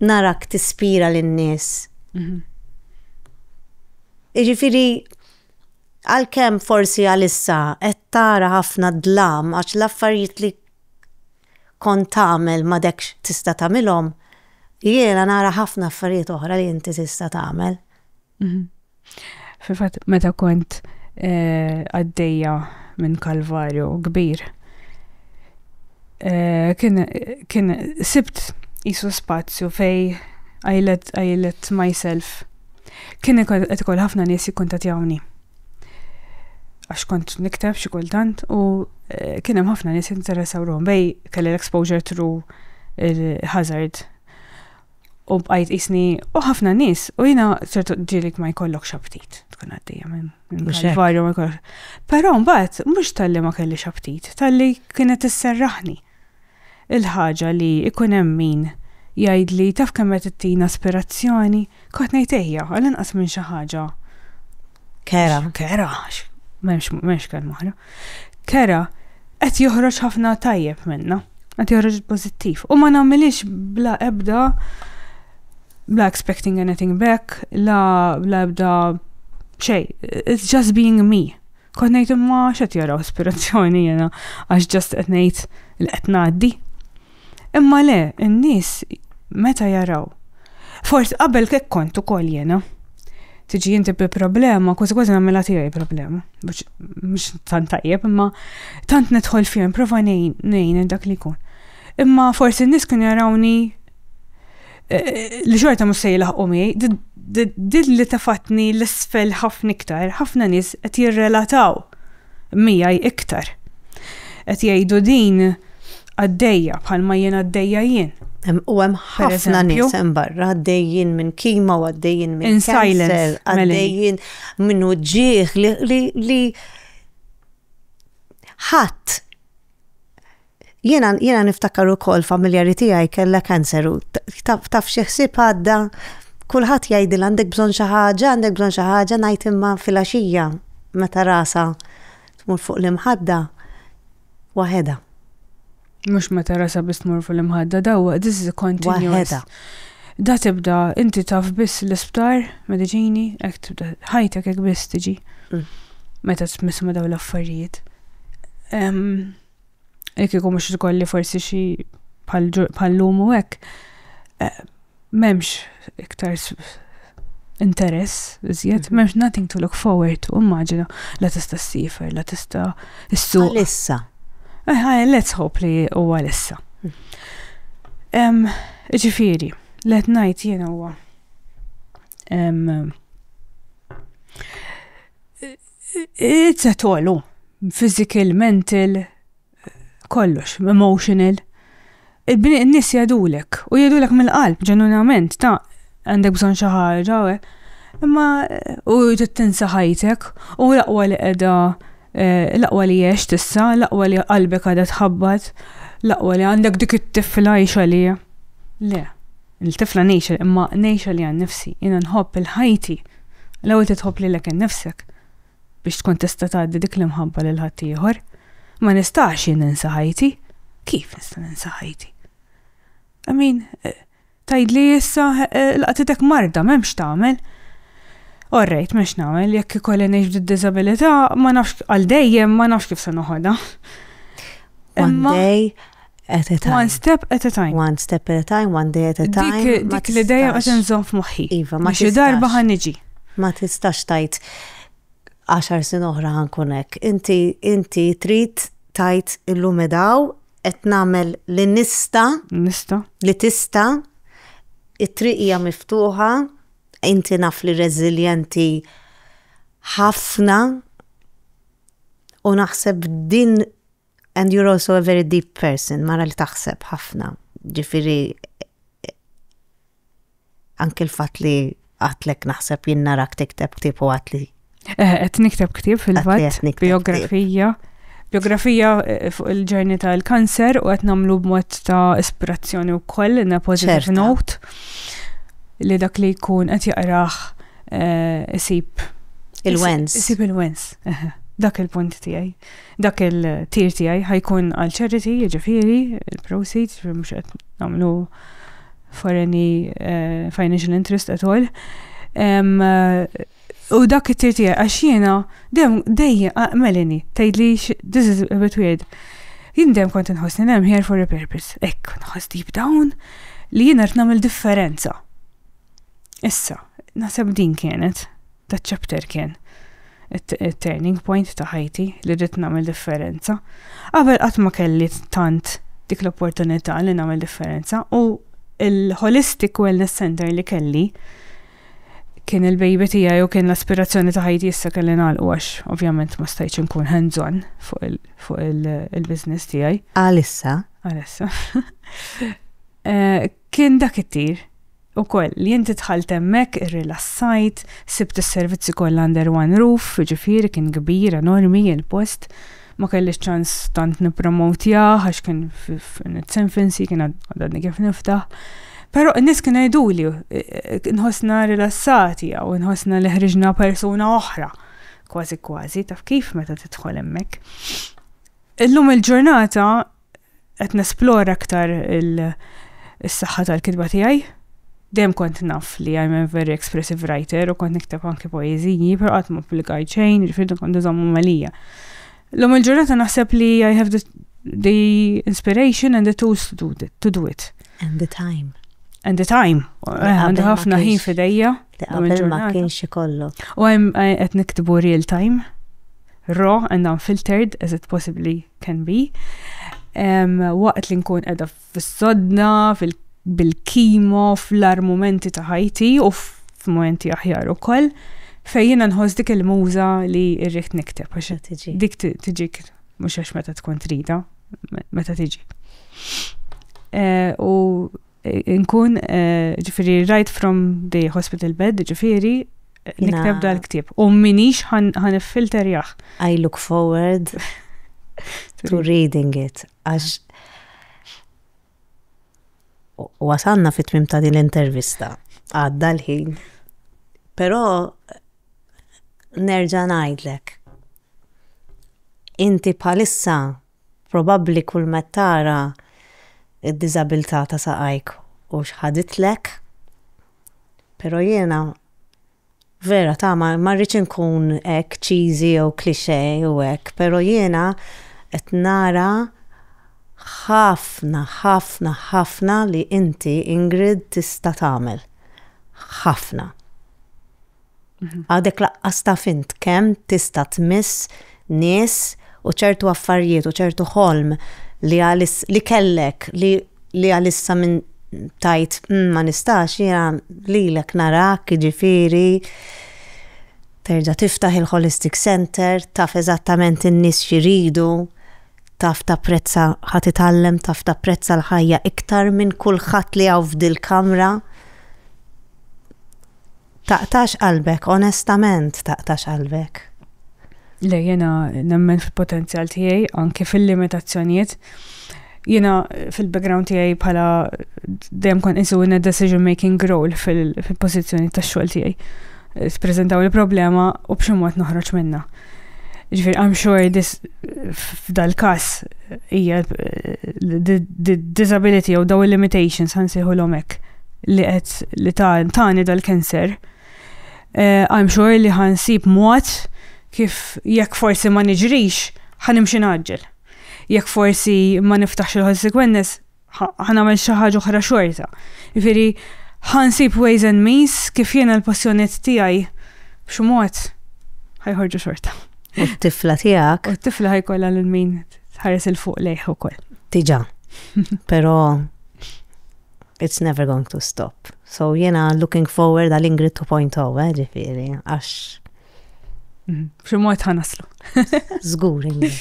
Narak tispira lin-nies. Mhm. Jiġifieri għalkemm forsi għalissa qed tara ħafna dlam għax l-affarijiet li kont tagħmel m'għadekx tista' tagħmilhom, jiena nara ħafna affarijiet oħra li inti tista' tagħmel. Mhm. Fil-fatt meta kont eh, għaddejja minn kalvarju kbir, eh, kien sibt jisu spazju fej għajlet myself. Kien qed ikoll ħafna nies jikkuntatjawni. għax kont nikteb xi kultant u eh, kien hemm ħafna nies interessaw ruħhom bej kelli l-exposure through il-hazard. U bqajt isni u ħafna nies u jiena ċertu ġielik ma jkollokx aptit tkun għaddejja minn kalvarju ma jkollokx. Però mbagħad mhux talli ma kelli aptit, talli kienet isserraħni. Il-ħaġa li jkun hemm min jgħidli taf kemm qed ittina aspirazzjoni, kont ngħid ejja, għal inqas minn xi ħaġa. Kera. Kera, m'hemmx kelma oħra. Kera qed joħroġ ħafna tajjeb minna, qed joħroġ pożittiv. U ma nagħmilix bla ebda bla expecting anything back, la bla ebda xej, it's just being me. Kont ngħid imma x'qed jaraw ispirazzjoni jiena għax ġast qed ngħid li qed ngħaddi. Imma le, in-nies meta jaraw. Forsi qabel kek kont ukoll jiena. Tiġi inti bi problema, kważi kważi nagħmilha tiegħi problema. Mhux tant tajjeb, imma tant nidħol fihom, prova ngħin dak li jkun. Imma forsi n-nies kien jarawni eh, li xorta mhux se jilħqu mi, din li tafatni l-isfel ħafna iktar, ħafna nies qed jirrelataw miegħi iktar. Qed jgħidu din għaddejja bħalma jien għaddejja jien. U hemm ħafna nies hemm barra għaddejjin minn kima u għaddejjin minn cancer, għaddejjin minn uġġieħ li ħadd Jiena jiena niftakar ukoll familjari tiegħi kellha kanser u taf xi ħsieb għadda kulħadd jgħidil għandek bżonn xi ħaġa, għandek bżonn xi ħaġa ngħid imma filgħaxija meta rasha tmur fuq l-imħadda waħedha. Mhux meta rasha biss tmur fuq l-imħadda dawwa this is a continuous. Waħedha. Da tibda inti taf biss l-isptar, mediċini, hekk tibda ħajtek hekk biss tiġi. Mm. Meta tmiss ma daw l-affarijiet. Jekk ikun mhux tkolli forsi xi bħal-lum u hekk, eh, m'hemmx iktar interess, iżjed, mhm. m'hemmx nothing to look forward to, immaġina, la tista' s-sifer, la tista' s-suq. Għalissa. Eh, let's hope li u għalissa. Mhm. Ġifiri, let najt jena huwa. Izzet għolu, physical, mental, kollox, emotional. Il-bini n-nis jadulek, u jadulek mill-qalb, ġenunament, ta' għandek bżon xaħġa, imma u tinsa ħajtek, u laqwa li edha, eh, laqwa li jiex tissa, laqwa li qalbek għada tħabbat, laqwa li għandek dik it-tifla jiex għalija. Le. Il-tifla ngħixha imma ngħixha li għan nifsi, jiena nħobb il-ħajti. L-ewwel titħobb lilek innifsek biex tkun tista' tgħaddi dik l-imħabba lil ħadd ieħor. Ma nistax jien ninsa ħajti. Kif nista' ninsa ħajti? I mean, eh, tajdli issa eh, laqtitek marda, memx tagħmel. Orrejt, memx nagħmel, jekk ikolli ngħix bid-diżabilità, ma nafx għal dejjem ma nafx kif se noħodha. One day at a time. One step at a time. One step at a time, one day at a time. Dik, dik li dejjem qed inżomm f'moħħi. Iva, ma xi darba ħan niġi. Ma tistax tajt għaxar sin oħra ħankun hekk. Inti inti trid tajt illum edaw qed nagħmel li nista. Nista. Li tista. It-triq hija miftuħa, inti naf li reżiljenti ħafna u naħseb din And you're also a very deep person, mara li taħseb ħafna. Ġifiri, anke l-fat li għatlek naħseb jinnarak tikteb ktib u għatli. Eh, qed nikteb ktib fil-fatt, biografija. Biografija eh, fuq il-ġerni tal-kanser u qed nagħmlu b'mod ta' ispirazzjoni wkoll na positive note li dak li jkun qed jaqrah eh, isib il-wens. Isib il-wens. Dak il-punt tiegħi. Dak il-tir tiegħi ħajkun għal charity, jiġifieri, il-proceeds, jiġifieri mhux qed nagħmlu for any uh, financial interest at all. Um, u dak it-tir tiegħi għax jiena dejjem dejjem melini tgħidli this is a bit weird. Jien dejjem kont inħossni hemm here for a purpose. Ekk, nħoss deep down li jiena qed nagħmel differenza. Issa, naħseb din kienet, da ċapter kien, il-turning point ta' ħajti li rrit namel differenza. Qabel qatt ma kelli tant dik l-opportunità li namel differenza u il-Holistic Wellness Center li kelli kien il-baby tiegħi u kien l-aspirazzjoni ta' ħajti issa kelli nagħlqu għax ovvjament ma stajtx inkun hands-on fuq il-business tiegħi. Għalissa. Għalissa. Eh, Kien dak it-tir, ukoll, li inti dħalt hemmhekk, irrilassajt, sibt is-servizzi kollha under one roof, jiġifieri kien kbir, enormi, il-post. Ma kellix ċans tant nippromowtjah għax kien in its infancy, kien għadni kif niftaħ. Però n-nies kienu jgħiduli nħossna rilassati hawn, nħossna li ħriġna persuna oħra, kważi kważi, taf kif meta tidħol hemmhekk. Illum il-ġurnata qed nesplora aktar il-saħħa tal-kitba tiegħi. Dejjem kont naf li I'm a very expressive writer u kont nikteb anki poeżiji, però qatt ma publikaj xejn, ġifieri kont iżommu malija. L-lum il-ġurnata naħseb li I have the, the inspiration and the tools to do, it, to do it. And the time. And the time. Eh, għandi ħafna ħin fidejja. Qabel ma kienx ikollok. U għem qed niktibu real time, raw and unfiltered as it possibly can be, waqt li nkun edha fis-sodna, bil-kimo, fl-armumenti ta' ħajti u f'momenti aħjar u koll, fejjina nħos dik il-muza li irriħt nikteb, għax dik tiġik, mux għax meta tkun trida, meta tiġi. Eh, u Nkun, ġifiri, right from the hospital bed, ġifiri, nikteb dal-ktib. U minix ħan filter jaħ. I look forward to reading it. Għax wasanna fit tmim ta' din l-intervista. Għadda l-ħin. Pero nerġa' ngħidlek. Inti bħalissa probabbli kull met tara d-diżabilità ta' saqajk u x'ħaditlek, però jiena vera ta' ma ma rridx inkun hekk cheesy jew cliché u hekk, però jiena qed nara ħafna, ħafna, ħafna li inti Ingrid tista' tagħmel. Ħafna. Għadek laqqas ta' fint kemm tista' tmiss nies u ċertu affarijiet u ċertu ħolm li għalis li kellek li li għalissa minn tajt mm, ma nistax jena lilek narak ġifiri terġa' tiftaħ il-Holistic Center, taf eżattament in-nies xiridu, taf ta' prezza ħat itallem, taf ta' prezza l-ħajja iktar minn kulħadd li għaw f'dil-kamra. Taqtax qalbek, onestament taqtax qalbek. Le, jiena nemmen fil-potenzjal tiegħi, anki fil-limitazzjonijiet. Jiena fil-background tiegħi bħala dejjem kon isu in decision making role fil-pożizzjoni tax-xogħol tiegħi. Spreżentaw il-problema u b'xi mod noħroġ minnha. Ġifir, I'm sure this f'dal-kas hija the disability jew daw il-limitations ħansiħu l-omek li qed li tani dal-cancer. Eh, I'm sure li ħansib mod kif jekk forsi ma niġrix ħanimxi naġġel. Jekk forsi ma niftaħx il-consequences ħa nagħmel xi ħaġa oħra xorta. Jiġifieri ħa nsib ways and means kif jiena l-passjoniet tiegħi b'xi mod ħajħorġu xorta. U t-tifla tiegħek. U t-tifla ħajkollha lil min tħares il fuq lejh ukoll. Diġà. Però it's never going to stop. So jiena looking forward għal Ingrid 2.0, eh, ġifieri, għax. Mhm. B'xi mod ħanaslu. Żgur, Ingrid.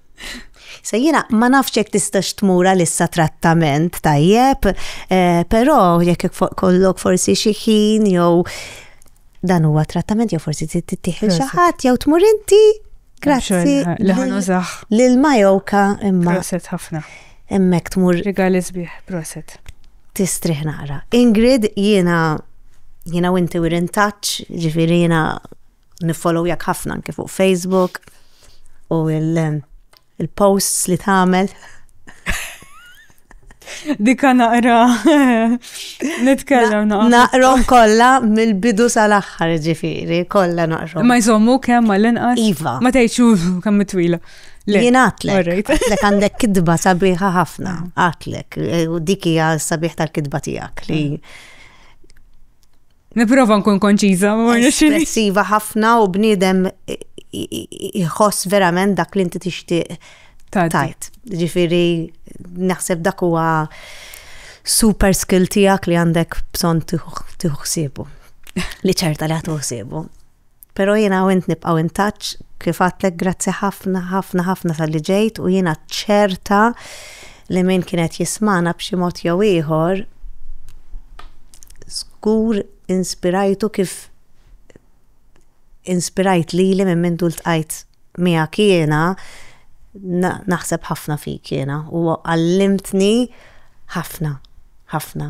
So jiena ma nafx jekk tistax tmur għalissa trattament tajjeb, eh, però jekk kollok forsi xi ħin jew dan huwa trattament jew forsi tittieħel xi ħadd jew tmur inti. Grazzi. Li ħanużaħ. Lil Majoka imma. Proset ħafna. Emmek tmur. Rigali sbieħ, proset. Tistrih naqra. Ingrid jiena jiena u inti we're in touch, ġifieri jiena niffollowjak ħafna anke fuq Facebook u il-posts li tagħmel. Dika naqra nitkellem naqra. Naqrom kollha mill-bidu sal-aħħar ġifieri, kollha naqrom. Ma jżommu kemm ma l-inqas. Iva. Ma tgħidxu kemm twila. Jien għatlek. Għatlek għandek kidba sabiħa ħafna. Mm. Għatlek. U dik hija sabiħ tal-kidba tiegħek li mm. Niprofa nkun konċiża, ma Espressiva ħafna u bniedem jħoss verament dak li inti tixtieq tajt. Ġifieri naħseb dak huwa super skill tiegħek li għandek bżonn tieħu ħsiebu. Li ċerta li ħsibu. Pero jiena u int nibqgħu in touch, kif għadtlek grazzi ħafna ħafna ħafna talli ġejt u jiena ċerta li min kien qed jismagħna b'xi mod jew ieħor żgur inspirajtu kif inspirajt lili minn mindu ltqajt miegħek jiena naħseb ħafna fik jiena u għallimtni ħafna ħafna.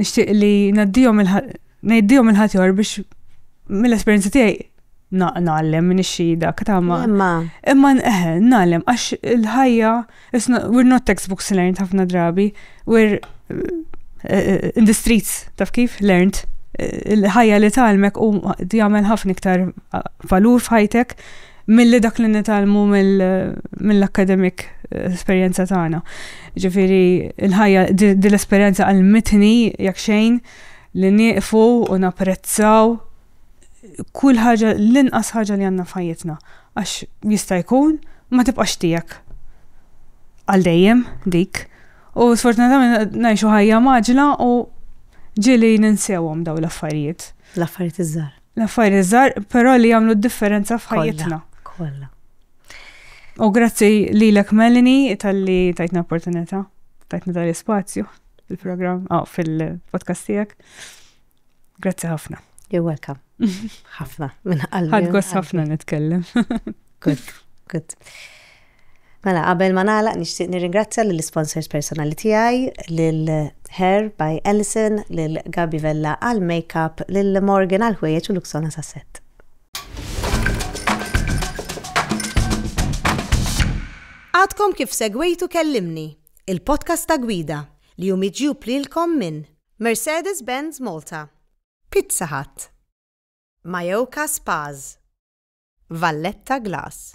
Nixtieq li ngħaddihom ngħiddihom il-ħadd biex mill-esperjenza tiegħi naqnallem minn ix-xhieda ktama. Imma. Imma eħe, eh, naqlem għax il-ħajja we're not textbooks learned ħafna drabi, we're eh, eh, in the streets taf kif learned il-ħajja li talmek u jagħmel ħafna iktar valur f'ħajtek milli dak li nitalmu mill-akademik eh, esperjenza tagħna. Ġifieri il-ħajja din l-esperjenza għalmitni jekk xejn li nieqfu u napprezzaw kull ħaġa l-inqas ħaġa li għandna f'ħajjitna għax jista' jkun ma tibqax tiegħek għal dejjem dik. U sfortunatament ngħixu ħajja maġla u ġili ninsewhom daw l-affarijiet. L-affarijiet iż-żgħar. L-affarijiet iżgħar, però li jagħmlu d-differenza f'ħajjitna. Kollha. U grazzi lilek Melanie tal-li tajtna opportunità, tajtna tal-ispazju fil-programm, oh, ah, fil-podcast tiegħek. Grazzi ħafna. You're welcome. ħafna, minn qalbi. Ħadgos ħafna nitkellem. Good, good. Mela, qabel ma nagħlaq nixtieq nirringrazzja lill-isponsors personali tiegħi, lil Hair by Alison, lil Gaby Vella għall-makeup, lil Morgan għall-ħwejjeġ u Luxonas għas-sett. Għadkom kif segwejtu Kellimni, il-podcast ta' Gwida, li hu miġjub lilkom minn Mercedes-Benz Malta, Pizza Hut, Mayoka Spas, Valletta Glass.